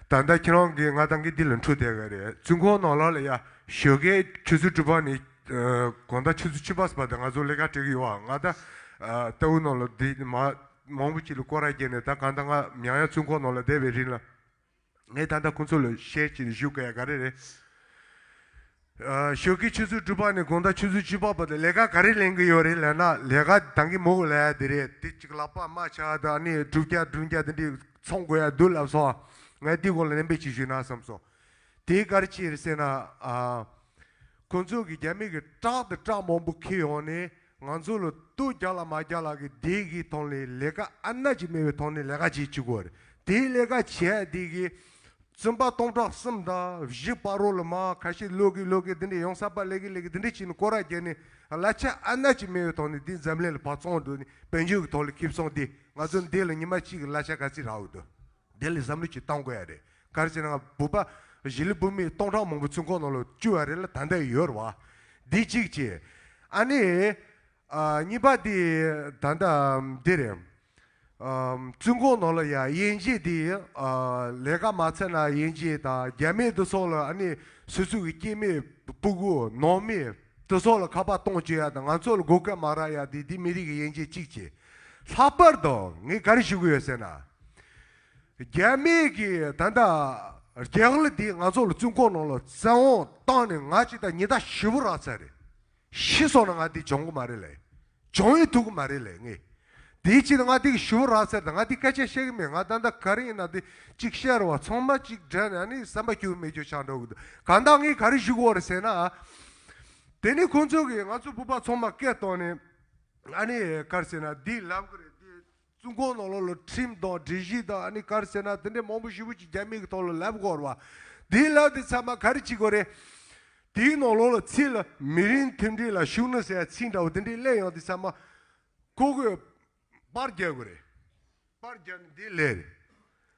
S6: ད་ལྟ་ཁྱེད་རང་གིས་ང་ད་གིན་འདི་ལ་འཁྲུག་བསྡད་ག་རེ། བཙུན་ཁོང་ནང་ལག་ལ་ཡ། ཞོལ་ཁའི་ཆུ་ཚོད་དྲུག་པ་ནི། གོང་ད་ཆུ་ཚོད་བཅུ་པ་སོ་པ་ད་ང་ཚོ་ལས་ཀ་སྤྲད་གི་ཡོད་ཨ། ང་ད། རྟ་འུ་ནང་ལ་འདི་མ། མང་པོ་ཅིག་ལ་སྐོར་ར་བརྒྱབ་ནས་ད་གང་ད་ང་མྱང་ཡ་བཙུན་ཁོང་ནང་ལ་བསྡད་པའི་རིན་ལ། ངས་ད་ལྟ་ཁོ་ཚོ་ལ་ཤེར་ཕྱིན་བཞུགས་ག་ཡ་ག་རེ་རེད། ཞོགས་ཀྱི་ཆུ་ཚོད་དྲུག་པ་ནས་དགོང་ཟླ་ཆུ་ཚོད་བཅུ་པ་བར་དུ་ལས་ཀ་ག་རེ་ལེན་གི་ཡོད་རེད་ལབ་ན་ལས་ཀ་དང་གི་མོག་ལ་ཡ་འདི་རེད་དེ་གཅིག་ལབ་པ་རྨ་བྱ་དང་ཨ་ནི་དྲུག་བརྒྱ་བདུན་བརྒྱ་དེ་འདྲི་ཚོང་དགོས་ཡ་འདུག་ལབ་སོང་ངས་དེའི་སྐོར་ལ་ནན་པོས་ཅིག་ཞུས་ན་བསམ་སོང། དེའི་སྐར་ཕྱིར་ཟེར་ན། ཁོ་ཚོ་གི་རྒྱ་མི་གི་བཀྲག་དང་བཀྲག་མང་པོ་ཁེལ་ཡོང་ནས། ང་ཚོ་ལ་སྟུ་རྒྱག་ལ་མ་རྒྱག་ལ་གི་དེ་གི་ཐོག་ནས་ལས་ཀ་ཨ་ན་གྱི་མེད་པའི་ཐོག་ནས་ལས་ཀ་བྱེད་ཅི་དགོས་རེད་དེའི་ལས་ཀ་བྱས་དེ་གི་བཙུན་པ་སྟོང་ཕྲག་གསུམ་དང་བཞི་པ་རོ་ལ་མ་ཁ་ཤས་ལོས་ཀི་ལོས་ཀི་དེ་འདྲས་ཡོང་ས་པ་ལས་ཀི་ལས་ཀི་དེ་འདྲས་བྱས་ནས་སྐོར་ར་རྒྱལ་ནས་གླ་ཆ་ཨ་ན་གྱི་མེད་པའི་ཐོག་ནས་དེ་འཛམ་གླིང་ལ་བ་ཙོང་འགྲོ་ནས་བན་ཆོས་ཀི་ཐོག་ལ་ཁིབ་སོང་དེ་ང་ཚོ་འདི་ལ་ཉི་མ་གཅིག་གི་གླ་ཆ་ག་ཚིག་རག་འོས་དོ་དེ་ལ་བསམ་བློ་གྱི་བཏང་དགོས་ཡ་རེད་གར་གྱི་ནང་སྦུ་པ། བཞི་ལི་སྦུབ་མིག་སྟོང་ཕྲག་མང་པོ་ཚུན་ཁོག་ནང་ལོ་བཅུ་བ་རེ་ལ་ད་འདི་ཡོད་རེད་བ། འདི་གཅིག་བྱེད། ཨ་ནི། གཉིས་པ་འདི་ད་ལྟ་འདི་རེད། ཚུན་ཁོག་ནང་ལ་ཡ་དབྱེ་འབྱེད་འདི་ལས་ཀ་མ་ཚར་ན་དབྱེ་འབྱེད་དང་རྒྱ་མེད་དུ་སོང་ལ་ཨ་ནི་སུ་ཚུགས་ཀྱི་སྐྱེད་མེད་སྤུ་གུ་ནང་མེད་དུ་སོང་ལ་ཁ་པར་གཏོང་བཅོལ་ཡ་དང་ང་ཚོ་ལ་སྒོ་སྐལ་མ་རག་ཡ་འདི་འདི་མི་རིགས་ཀྱི་དབྱེ་འབྱེད་གཅིག་བྱེད། ལྷག་པར་དུ་ངས་ག་རེ་ཞུ་གི་ཡོད་ཟེར་ན། རྒྱ་མི་གིས་ད་ལྟ་རྒྱ་གར་འདི་ང་ཚོ་ལ་བཙུན་ཁོག་ནང་ལ་བཙན་འོག་བཏང་ནས་ང་ཅི་ད་ཉི་ད་ཞི་བོ་རག་ཚར་རེད། ཤི་སོང་ན་ང་འདི་འབྱོང་གི་མ་རེད་ལེ། འབྱོང་ཡི་ཐུག་གི་མ་རེད་ལེ་ངས། དེའི་ཕྱིར་ང་འདི་གི་ཞི་བོ་རག་ཚར་ད་ང་འདི་སྐད་ཆ་བཤད་གི་མེད་ང་ད་ད་ག་རེ་ཡིན་ན་འདི་གཅིག་བཤད་རོགས་ཚང་མ་གཅིག་དྲན་ནས་ནི་བསམ་པ་སྐྱོ་མེད་སྐྱོ་ཆག་འགྲོ་གི་འདུག་གང་ལྟ་ངས་ག་རེ་ཞུ་གི་འོ་རེད་ཟེར་ན། དེ་ནི་ཁོང་ཚོ་གིས་ང་ཚོ་སྤུ་པ་ཚང་མ་སྐད་བཏང་ནས་ཨ་ནི་ག་རེ་ཟེར་ན་འདི་ལབ་གི་རེད་འདི། བཙུན་ཁོང་ནང་ལོགས་ལ་ཁྲིམས་དང་སྒྲིག་གཞི་དང་ཨ་ནི་གར་ཟེར་ན་དེ་འདྲའི་མང་པོ་ཞིག་བོད་ཀྱི་རྒྱ་མི་གི་ཐོག་ལ་ལབ་དགོས་རེད། དེའི་ལབ་དེ་ཚང་མ་ག་རེ་བྱེད་དགོས་རེད། དེའི་ནང་ལོགས་ལ་ཚིག་ལ་མི་རིང་མཐུན་སྒྲིལ་ལ་ཞུགས་ན་ཟེར་ཚིག་འདྲ་བོ་དེ་འདྲའི་གླེང་ཡང་དེ་ཚང་མ་ཁོ་བོས་པར་རྒྱག་དགོས་རེད། པར་རྒྱག་ནི་དེའི་ལས་རེད།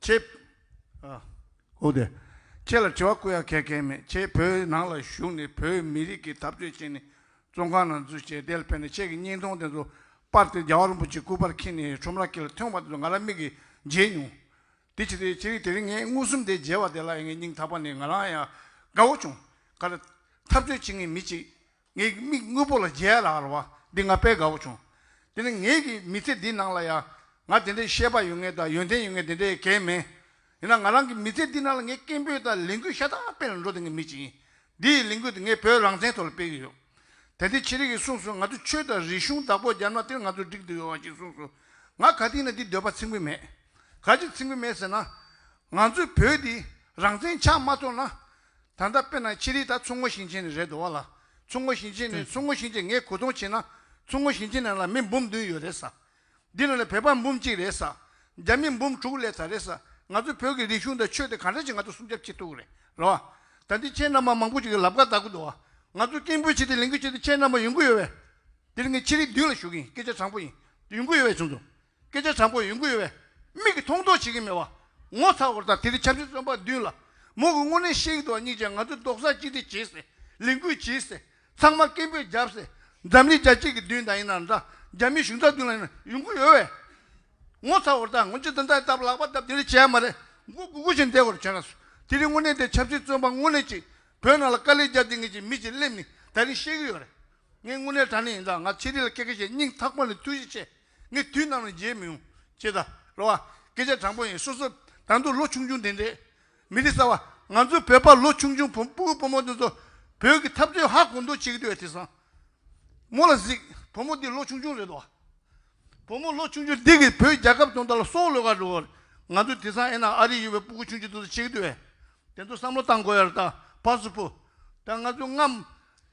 S7: ཁྱེད། ཨོ་དེ། ཁྱེད་ལ་དྲི་བ་བསྐུར་ཡག་གལ་གལ་མེད་ཁྱེད་བོད་ནང་ལ་བཞུགས་ནས་བོད་མི་རིགས་ཀྱི་འཐབ་རྩོད་བྱས་ནས་བཙོན་ཁང་ནང་འཛུལ་བྱས་དེ་ལ་ཕན་ནས་ཁྱེད་ཀྱི་སྙིང་སྟོང་དེ་ཚོ་སྤར་ཏེ་རྒྱལ་བ་རིན་པོ་ཆེ་སྐུ་པར་འཁྱིལ་ནས་ཁྲོམ་ར་ཁྱེད་ལ་ཐོན་བ་དེ་ཚོ་ང་རང་མིག་གིས་མཇལ་མྱོང། དེ་ཕྱིར་དེ་རིང་དེ་རིང་ངས་མངོན་སུམ་དེ་མཇལ་བ་དེ་ལ་ངའི་སྙིང་ཐག་པ་ནས་ང་རང་ཡང་དགའ་བོ་བྱུང། ག་ལ། འཐབ་རྩོད་བྱེད་ངེས་མི་གཅིག། ངའི་མིག་དངོས་པོ་ལ་མཇལ་ལ་ལ་བ་འདི་ང་དཔེ་དགའ་བོ་བྱུང། དེ་ནི་ངེད་ཀྱི་མི་ཚེ་འདི་ནང་ལ་ཡང་ང་དེ་འདྲའི་ཤེས་པ་ཡོད་ངེས་དང་ཡོན་ཏན་ཡོད་ངེས་དེ་འདྲའི་གལ་མེད། ཡིན་ན་ང་རང་གི་མི་ཚེ་འདི་ནང་ལ་ངས་སྐད་འབོད་དང་ལས་འགུལ་ཤ་སྟག་སྤེལ་ནས་འགྲོ་བསྡད་མཁན་མི་ཅིག་ཡིན། འདིའི་ལས་འགུལ་དེ་ངས་བོད་རང་བཙན་ཐོག་ལ་སྤེལ་གྱི་ཡོད། དེ་འདི་ཆེ་རིགས་ཀྱིས་གསུངས་སོང་ང་ཚོས་ཆོས་དང་རིག་གཞུང་བདག་པོ་རྒྱབ་ན་དེར་ང་ཚོ་འགྲིག་འདོད་ཡོད་བ་ཞིག་གསུངས་སོང། ང་ག་དུས་ནས་འདི་འདོད་པ་ཚིག་འགུལ་མེད། ག་ཅིག་ཚིག་འགུལ་མེད་ཟེར་ན། ང་ཚོའི་བོད་འདི་རང་བཙན་ཆགས་མ་ཐུབ་ན། ད་ལྟ་དཔེར་ན་ཕྱི་རིགས་དག་མཚོ་སྔོན་ཞིང་ཆེན་ནས་རེད་འདུག་བ་ལ་མཚོ་སྔོན་ཞིང་ཆེན་ནས་མཚོ་སྔོན་ཞིང་ཆེན་ངས་གོ་མཐོང་བྱས་ན་མཚོ་སྔོན་ཞིང་ཆེན་ནང་ལ་མི་འབུམ་བདུན་ཡོད་རེད་ས། འདི་ནང་ལ་བོད་པ་འབུམ་གཅིག་རེད་ས། རྒྱ་མི་འབུམ་དྲུག་ལས་ད་རེད་ས། ང་ཚོ་བོད་ཀྱི་རིག་གཞུང་དང་ཆོས་དེ་ག་འདྲ་ཞིག་ང་ཚོ་སྲུང་སྐྱབས་བྱེད་ཐུབ་རེད་ར་བ། ད་འདི་ཁྱེད་རྣམ་པ་མང་པོ་ཞིག་གི་ལབ་ཁ་བལྟ་གི་འདུག་བ། ང་ཚོ་སྐད་འབོད་བྱེད་དེ་ལེན་གི་བྱེད་དེ་ཁྱེད་རྣམ་པ་ཡོང་གི་ཡོད་བས། འདིར་ངས་ཕྱི་རིགས་བདུན་ལ་ཞུ་གི་ཡིན་སྐད་ཆ་དྲང་པོ་ཡིན། ཡོང་གི་ཡོད་བས་བྱུང་སོང། སྐད་ཆ་དྲང་པོ་ཡོང་གི་ཡོད་པས་མིག་གིས་མཐོང་མཐོང་བྱེད་ཀྱི་མེད་པ་ངོ་ཚ་བོར་དང་དེ་རིང་འཆམ་གཞི་རྩོམ་པ་བདུན་ལ་མོ་གི་དངོས་གནས་ཤེས་ཀྱི་འདུག་གཉིས་ཀྱིས་ང་ཚོས་རྡོག་རྩ་གཅིག་སྒྲིལ་བྱེད་སྲིད་ལས་འགུལ་བྱེད་སྲིད་ཚང་མ་སྐད་འབོད་རྒྱབ་སྲིད་འཛམ་གླིང་རྒྱ་ཆེ་གི་མདུན་དང་ཡིན་ན་འདྲ་རྒྱ་མིའི་གཞུང་རྩ་མདུན་ལ་ཡིན་ན་ཡོང་གི་ཡོད་པས་ངོ་ཚ་བོར་དང་ངོ་ཇི་ལྟ་འདྲ་ལྟ་བ་ལག་པ་བརྡབ་དེ་རིང་བྱས་ཡ་མ་རེད་མགོ་སྒུར་སྒུར་བཞིན་བསྡད་དགོས་རེད་བྱས་ན་སུ་དེ་རིང་དངོས་གནས་དེ་འཆམ་གཞི་རྩོམ་པ་དངོས་གནས་ཅིག་བོད་ནང་ལ་དཀའ་ལས་བརྒྱབ་དེ་ངེད་ཀྱི་མི་ཞིག་སླེབས་ནས་ད་རིང་བཤད་ཀྱི་ཡོད་རེད་ངས་དངོས་གནས་དྲང་གནས་ཡིན་དང་ང་ཆེད་ལས་ལ་སྐད་ཀ་ཞེ་སྙིང་ཐག་པ་ནས་ཐུགས་རྗེ་ཆེ་ངས་དུས་ནམ་ཡང་བརྗེད་མི་ཡོང། ཅེས་ད་རོ་བ། སྐད་ཆ་དྲང་པོ་ཡིན་སོ་སོ། ད་མདོ་ལོ་ཆུང་ཆུང་དེ་འདྲས། མི་རིགས་གསར་བ། ང་ཚོའི་བོད་པ་ལོ་ཆུང་ཆུང་བུ་སྤུ་སྤོ་མོ་དེ་ཚོ། བོད་ཀྱི་འཐབ་རྩོད་ཧ་གོ་འདོད་བྱེད་ཀྱི་འདུག་བས་དེ་བཟང། མོ་ལ་གཟིགས། བུ་མོ་འདི་ལོ་ཆུང་ཆུང་རེད་བ། བུ་མོ་ལོ་ཆུང་ཆུང་འདི་གིས་བོད་རྒྱལ་ཁབ་སྐྱོང་ད་ལ་སོག་ལོས་ག་འགྲོ། ང་ཚོ་དེ་བཟང་ཨེ་ན་ཨ་རིས་ཡོད་པའི་སྤུ་གུ་ཆུང་ཆུང་དེ་ཚོ་བྱེད་ཀྱི་འདུག་བས། དེ་ཚོ་བསམ་བློ་བཏང་དགོས་ཡ་རེད་ད་བ་སུ་བུ། ད་ང་ཚོའི་རྔམ།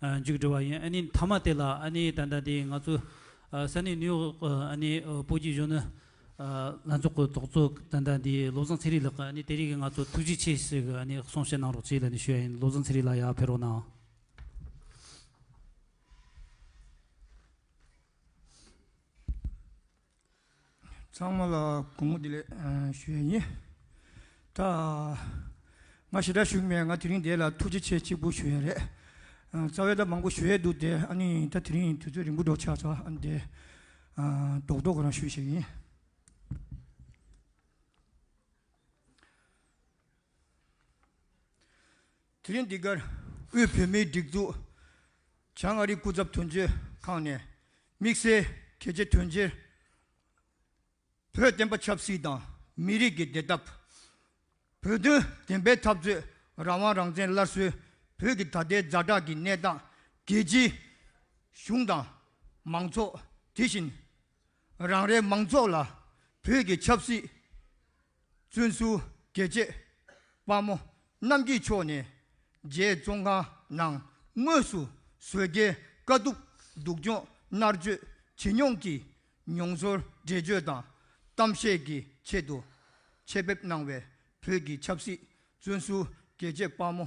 S1: མཇུག་སྒྲིལ་བ་ཡིན་མཐའ་མ་དེ་ལ་ད་ལྟ་དེ་ང་ཚོ་ས་གནས་ནིའུ་ཡོག་སྤོ་སྒྱུར་གཞོན་ནུ་ལྷན་ཚོགས་ཀྱི་ཚོགས་གཙོ་ད་ལྟ་དེ་བློ་བཟང་ཚེ་རིང་ལགས་ནི་དེ་རིང་གི་ང་ཚོ་ཐུགས་རྗེ་ཆེ་ཞེས་གསུངས་བཤད་གནང་རོགས་གཅེས་ལ་ཞུ་བ་ཡིན་བློ་བཟང་ཚེ་རིང་ལགས་ཡར་ཕེབས་རོགས་གནང།
S8: ཚང་མ་ལ་དགོང་མོ་བདེ་ལེགས་ཞུ་ཡི་ཡིན། ད་ང་ཞེ་དྲག་ཞུགས་མེད་ང་དེ་རིང་འདས་ལ་ཐུགས་རྗེ་ཆེ་གཅིག་པུ་ཞུ་ཡ་རེད། རྩ་བའི་ལྟ་མང་པོ་ཞུ་ཡས་འདུག་དེ་ཨ་ནི་ད་དེ་རིང་དུས་ཚོད་རིང་པོ་འགྲོ་ཆགས་ཚ་ཨ་ནི་དེ་རྡོག་རྡོག་གི་རང་ཞུ་ཞིག་ཡིན། དེ་རིང་འདི་གར་དབུས་བོད་མིའི་སྒྲིག་འཛུགས་བྱང་མངའ་རིས་སྐུ་ཚབ་དོན་གཅོད་ཁང་ནས་དམིགས་བསལ་གལ་ཆེ་དོན་ཆེར་བོད་བསྟན་པ་ཆབ་སྲིད་དང་མི་རིགས་ཀྱི་བདེ་ཐབས། བོད་དོན་བདེན་པའི་འཐབ་རྩོད་རང་དབང་རང་བཙན་སླར་གསོའི་བོད་ཀྱི་ད་ལྟའི་རྫ་བྲག་གི་གནས་སྟངས་རྒྱལ་སྤྱིའི་གཞུང་དང་མང་ཚོགས་དེ་བཞིན་རང་རེའི་མང་ཚོགས་ལ་བོད་ཀྱི་ཆབ་སྲིད་བཙུན་བསུ་དགེ་བཅས་དཔའ་མོ་རྣམས་ཀྱི་མཆོག་ནས་རྗེ་བཙོན་ཁང་ནང་དངོས་སུ་བཟོད་དཀའི་དཀའ་སྡུག་སྡུག་སྦྱོང་མནར་གཅོད་ཇེ་མྱོང་གི་མྱོང་ཚོར་འགྲེལ་བརྗོད་དང་གཏམ་བཤད་ཀྱི་ཆེད་དུ་ཆེད་ཕེབས་གནང་བའི་བོད་ཀྱི་ཆབ་སྲིད་བཙོན་བསུ་དགེ་བཅས་དཔའ་མོ།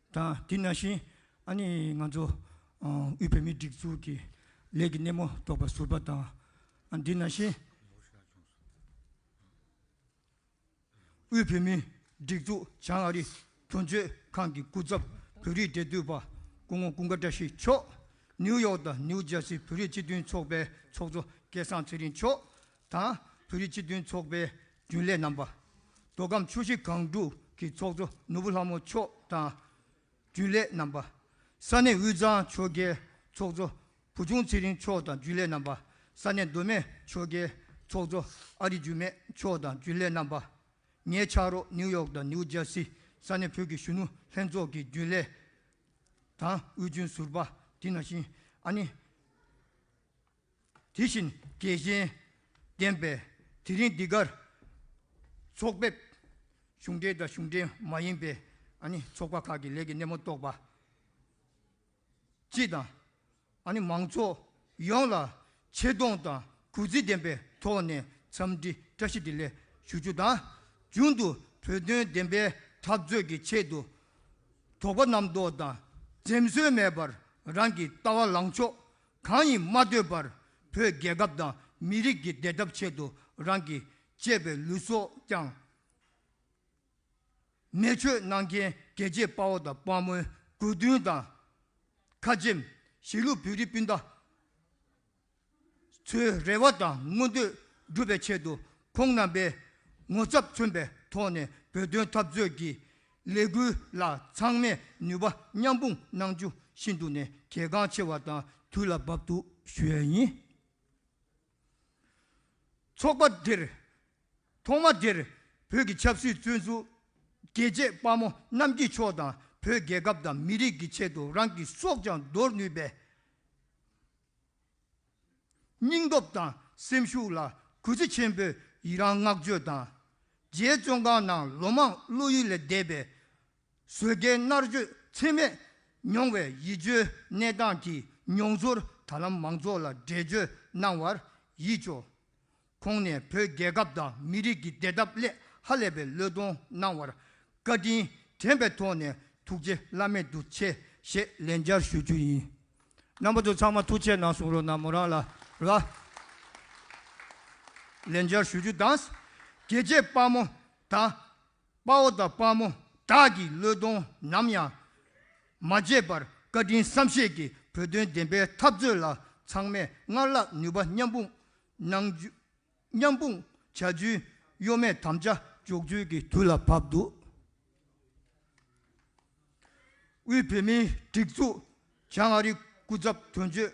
S8: དང་དེ་ནང་བཞིན་ཨ་ནི་ང་ཚོ་དབུས་བོད་མིའི་སྒྲིག་འཛུགས་ཀྱི་ལས་ཀྱི་སྣེ་མོ་རྟོགས་པ་ཟུར་པ་དང་དེ་ནང་བཞིན་དབུས་བོད་མིའི་སྒྲིག་འཛུགས་བྱང་ཨ་རི་དོན་གཅོད་ཁང་གི་སྐུ་ཚབ་བོད་རིགས་འབྲེལ་གཏུག་པ་སྐུ་ངོ་ཀུན་དགའ་བཀྲ་ཤིས་མཆོག་ནིའུ་ཡོག་དང་ནིའུ་ཇར་སི་བོད་རིགས་སྤྱི་མཐུན་ཚོགས་པའི་ཚོགས་གཙོ་སྐལ་བཟང་ཚེ་རིང་མཆོག་དང་བོད་རིགས་སྤྱི་མཐུན་ཚོགས་པའི་རྒྱུན་ལས་རྣམ་པ། མདོ་ཁམས་ཆུ་བཞི་སྒང་དྲུག་གི་ཚོགས་གཙོ་ནོར་བུ་ལྷ་མོ་མཆོག་དང་རྒྱུན་ལས་རྣམ་པ། ས་གནས་དབུས་གཙང་ཆོལ་ཁའི་ཚོགས་གཙོ་བུ་ཆུང་ཚེ་རིང་མཆོག་དང་རྒྱུན་ལས་རྣམ་པ། ས་གནས་མདོ་སྨད་ཆོལ་ཁའི་ཚོགས་གཙོ་ཨ་རིག་འཇུ་མེད་མཆོག་དང་རྒྱུན་ལས་རྣམ་པ། ངའི་ཕྱག་རོགས་ནིའུ་ཡོག་དང་ནིའུ་ཇར་སི་ས་གནས་བོད་ཀྱི་གཞོན་ནུ་ལྷན་ཚོགས་ཀྱི་རྒྱུན་ལས་དང་དབུས་རྒྱུན་ཟུར་པ་དེ་ན་བཞིན་ཨ་ནེ། དེ་བཞིན་རྒྱལ་ཞེན་ལྡན་པས་དེ་རིང་འདི་གར་ཚོགས་ཕེབས། གཞུང་འབྲེལ་དང་གཞུང་འབྲེལ་མ་ཡིན་པའི་ཚོགས་པ་ཁག་གི་ལས་ཀྱི་སྣེ་མོ་གཏོགས་པ་སྤྱི་དང། མང་ཚོགས་ཡོངས་ལ་ཆེ་མཐོང་དང་གུས་བརྩི་ལྡན་པའི་ཐོག་ནས་འཚམས་འདྲི་བཀྲ་ཤིས་བདེ་ལེགས་ཞུ་རྒྱུ་དང། རྒྱུན་དུ་བོད་དོན་བདེན་པའི་འཐབ་རྩོད་ཀྱི་ཆེད་དུ་དོགས་པ་རྣམ་རྟོག་དང་འཛེམ་ཟོན་མེད་པར་རང་གི་ལྟ་བ་ལངས་ཕྱོགས་གང་ཡིན་མ་ལྟོས་པར་བོད་རྒྱལ་ཁབ་དང་མི་རིགས་ཀྱི་བདེ་ཐབས་ཆེད་དུ་རང་གི་གཅེས་པའི་ལུས་སྲོག་ཀྱང་མེ་མཆོད་གནང་མཁན་རྒྱལ་གཅེས་དཔའ་བོ་དང་དཔའ་མོའི་དགོས་འདུན་དང་ཁ་ཆེམས་གཞིས་ལུས་བོད་རིགས་སྤུན་ཟླ་ཚོའི་རེ་བ་དང་མངོན་འདོད་སྒྲུབ་པའི་ཆེད་དུ་ཁོང་རྣམ་པས་ངོ་ཚབ་མཚོན་པའི་ཐོག་ནས་བོད་དོན་འཐབ་རྩོད་ཀྱི་ལས་འགུལ་ལ་ཚང་མས་ནུས་པ་མཉམ་སྤུངས་གནང་རྒྱུ་ཤིན་ཏུ་ནས་གལ་འགངས་ཆེ་བ་དང་དུས་ལ་བབ་འདུག་ཞུས་ཡིན། ཚོགས་པ་དེར་ཐོག་མ་དེར་བོད་ཀྱི་ཆབ་སྲིད་བཙོན་ཟུར་རྒྱལ་གཅེས་དཔའ་མོ་རྣམ་འབྱེད་མཆོག་དང་བོད་རྒྱལ་ཁབ་དང་མི་རིགས་ཀྱི་ཆེད་དུ་རང་གི་སྲོག་ཀྱང་འདོར་ནུས་པའི་སྙིང་སྟོབས་དང་སེམས་ཤུགས་ལ་གུས་བརྩི་ཆེན་པོས་ཡི་རངས་བསྔགས་བརྗོད་དང། རྗེ་བཙོན་ཁང་ནང་ལོ་མང་བློ་ཡུལ་ལས་འདས་པའི་བཟོད་དཀའི་མནར་གཅོད་ཚད་མེད་མྱོང་བའི་ཡིད་སྐྱོའི་གནས་སྟངས་ཀྱི་མྱོང་ཚོར་ད་ལམ་མང་ཚོགས་ལ་འགྲེལ་བརྗོད་གནང་བར་ཡིད་སྐྱོ། ཁོང་ནས་བོད་རྒྱལ་ཁབ་དང་མི་རིགས་ཀྱི་བདེ་ཐབས་སླད་ཧ་ལས་པའི་བློས་གཏོང་གནང་བར་བཀའ་དྲིན་དྲན་པའི་ཐོག་ནས་ཐུགས་རྗེ་བླ་མེད་དུ་ཆེ་ཞེས་ལན་བརྒྱར་ཞུ་རྒྱུ་ཡིན། རྣམ་པ་ཚོ་ཚང་མ་ཐུགས་ཆེ་གནང་གསུང་རོགས་གནང་མོ་རང་ལ་ར། ལན་བརྒྱར་ཞུ་རྒྱུ་དང། དགེ་བྱེད་དཔའ་མོ་དང། དཔའ་བོ་དང་དཔའ་མོ་དག་གི་བློས་གཏོང་ནམ་ཡང་མ་བརྗེད་པར་བཀའ་དྲིན་བསམ་ཤེས་ཀྱིས་བོད་དོན་བདེན་པའི་འཐབ་རྩོད་ལ་ཚང་མས་སྔར་ལྷག་ནུས་པ་མཉམ་སྤུངས་གནང་རྒྱུ། མཉམ་སྤུངས་བྱ་རྒྱུའི་གཡོ་མེད་དམ་བཅའ་འཇོག་རྒྱུའི་གི་དུས་ལ་བབས་འདུག་དབུས་བོད་མིའི་སྒྲིག་འཛུགས་བྱང་ཨ་རི་སྐུ་ཚབ་དོན་གཅོད་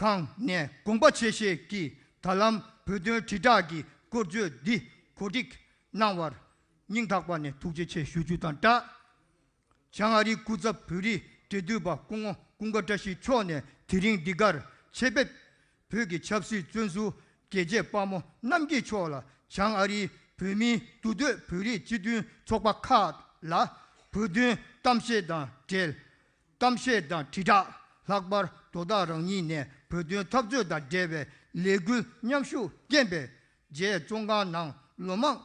S8: ཁང་ནས་དགོངས་པ་ཆེ་བཞེས་ཀྱིས་ད་ལམ་བོད་དོན་དྲིལ་བསྒྲགས་ཀྱི་སྐོར་བརྗོད་འདི་གོ་སྒྲིག་གནང་བར་སྙིང་ཐག་པ་ནས་ཐུགས་རྗེ་ཆེ་ཞུ་རྒྱུ་དང་སྦྲགས། བྱང་ཨ་རིའི་སྐུ་ཚབ་བོད་རིགས་འབྲེལ་མཐུད་པ་སྐུ་ངོ་ཀུན་དགའ་བཀྲ་ཤིས་མཆོག་ནས་དེ་རིང་འདི་གར་ཆེད་ཕེབས། བོད་ཀྱི་ཆབ་སྲིད་བཙོན་ཟུར་རྒྱལ་གཅེས་དཔའ་མོ་རྣམ་རྒྱལ་མཆོག་ལ་བྱང་ཨ་རིའི་བོད་མིའི་འདུ་སྡོད་བོད་རིགས་སྤྱི་མཐུན་ཚོགས་པ་ཁག་ལ་བོད་དོན་གཏམ་བཤད་དང་འབྲེལ་གཏམ་བཤད་དང་དྲིལ་བསྒྲགས་ལྷག་པར་དོ་བདག་རང་ཉིད་ནས་བོད་དོན་འཐབ་རྩོད་དང་འབྲེལ་བའི་ལས་འགུལ་མཉམ་ཞུགས་རྐྱེན་པས་རྗེས་བཙོན་ཁང་ནང་ལོ་མང་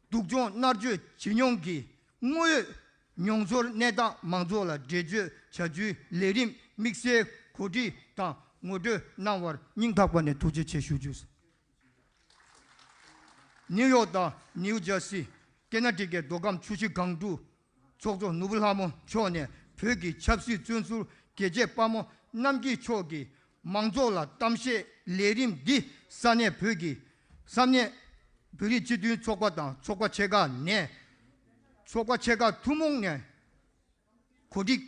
S8: སྡུག་སྦྱོང་མནར་གཅོད་བྱེད་མྱོང་གི་དངོས་ཡོད་མྱོང་ཚོར་གནས་སྟངས་མང་ཚོགས་ལ་འགྲེལ་བརྗོད་བྱ་རྒྱུའི་ལས་རིམ་དམིགས་བསལ་གོ་སྒྲིག་དང་ངོ་སྤྲོད་གནང་བར་སྙིང་ཐག་པ་ནས་ཐུགས་རྗེ་ཆེ་ཞུ་རྒྱུ། ནིའུ་ཡོག་དང་ནིའུ་ཇར་སི་སྐེ་ན་ཀྲི་ཀའི་མདོ་ཁམས་ཆུ་བཞི་སྒང་དྲུག་ཚོགས་གཙོ་ནོར་བུ་ལྷ་མོ་མཆོག་ནས་བོད་ཀྱི་ཆབ་སྲིད་བཙོན་ཟུར་རྒྱལ་གཅེས་དཔའ་མོ་རྣམ་རྒྱལ་མཆོག་གིས་མང་ཚོགས་ལ་གཏམ་བཤད་ལས་རིམ་འདི་ས་གནས་བོད་ཀྱི་ས་གནས་བོད་རིགས་སྤྱི་མཐུན་ཚོགས་པ་དང་ཚོགས་པ་ཆེ་ཁག་ནས་ཚོགས་པ་ཆེ་ཁག་ཐུན་མོང་ནས་གོ་སྒྲིག་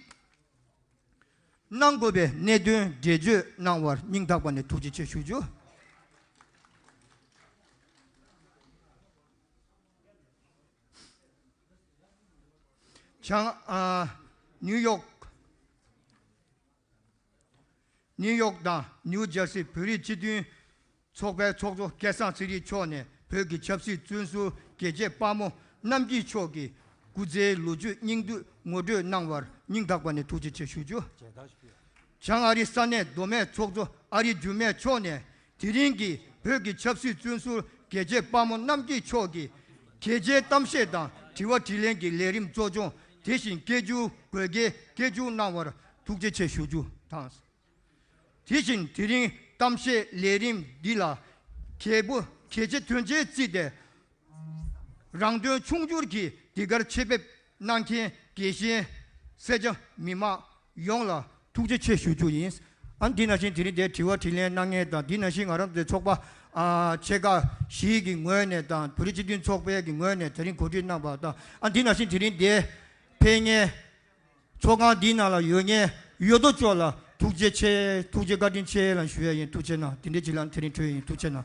S8: གནང་དགོས་པའི་གནད་དོན་འགྲེལ་བརྗོད་གནང་བར་སྙིང་ཐག་པ་ནས་ཐུགས་རྗེ་ཆེ་ཞུ་རྒྱུ། ནིའུ་ཡོག། ནིའུ་ཡོག་དང་ནིའུ་ཇར་སི་བོད་རིགས་སྤྱི་མཐུན་ཚོགས་པའི་ཚོགས་གཙོ་སྐལ་བཟང་ཚེ་རིང་མཆོག་ནས་བོད་ཀྱི་ཆབ་སྲིད་བཙོན་ཟུར་རྒྱལ་གཅེས་དཔའ་མོ་རྣམ་སྐྱིད་མཆོག་གི་སྐུ་ཚེའི་ལོ་རྒྱུས་སྙིང་བསྡུས་ངོ་སྤྲོད་གནང་བར་སྙིང་ཐག་པ་ནས་ཐུགས་རྗེ་ཆེ་ཞུ་རྒྱུ། བྱང་ཨ་རི་ས་གནས་མདོ་སྨད་ཚོགས་གཙོ་ཨ་རི་འགྱུར་མེད་མཆོག་ནས་དེ་རིང་གི་བོད་ཀྱི་ཆབ་སྲིད་བཙོན་ཟུར་རྒྱལ་གཅེས་དཔའ་མོ་རྣམ་རྒྱལ་མཆོག་གིས། གལ་ཆེའི་གཏམ་བཤད་དང་དྲི་བ་དྲིས་ལན་གྱི་ལས་རིམ་གཙོ་སྦྱོང་དེ་བཞིན་སྐད་བསྒྱུར་དགོས་གལ་སྐད་བསྒྱུར་གནང་བར་ཐུགས་རྗེ་ཆེ་ཞུ་རྒྱུ་དང། དེ་བཞིན་དེ་རིང་གཏམ་བཤད་ལས་རིམ་འདི་ལ་གལ་པོ་གལ་ཆེ་དོན་ཆེན་བརྩིས་ཏེ། རང་དོན་ཕྱུག་འགྱུར་གྱི་འདི་གར་ཆེད་ཕེབས་གནང་མཁན་དགེ་བཤེས་སེར་སྐྱ་མི་དམངས་ཡོངས་ལ་ཐུགས་རྗེ་ཆེ་ཞུ་རྒྱུ་ཡིན། ཨ་འདི་ན་བཞིན་དེ་རིང་འདའི་དྲི་བ་དྲིས་ལན་གནང་མཁན་དང་འདི་ན་བཞིན་ང་རང་ཚོའི་ཚོགས་པ་ཆེ་ཁག་བཞིའི་གི་ངོས་ནས་དང་བོད་རིགས་སྤྱི་མཐུན་ཚོགས་པའི་གི་ངོས་ནས་དེ་རིང་གོ་སྒྲིག་གནང་པ་དང་ཨ་འདི་ན་བཞིན་དེ་རིང་འདའི་ཕེབས་མཁན་ཚོགས་ཁང་འདི་ན་ལ་ཡོད་མཁན་ཡོད་དོ་ཅོག་ལ་ཐུགས་རྗེ་ཆེ་ཐུགས་རྗེ་བཀའ་དྲིན་ཆེ་ལ་ཞུ་ཡ་ཡིན་ཐུགས་ཆེ་གནང་དེ་འདྲའི་གི་ལ་འདི་རིང་གྲོལ་ཡིན་ཐུགས་ཆེ་གནང།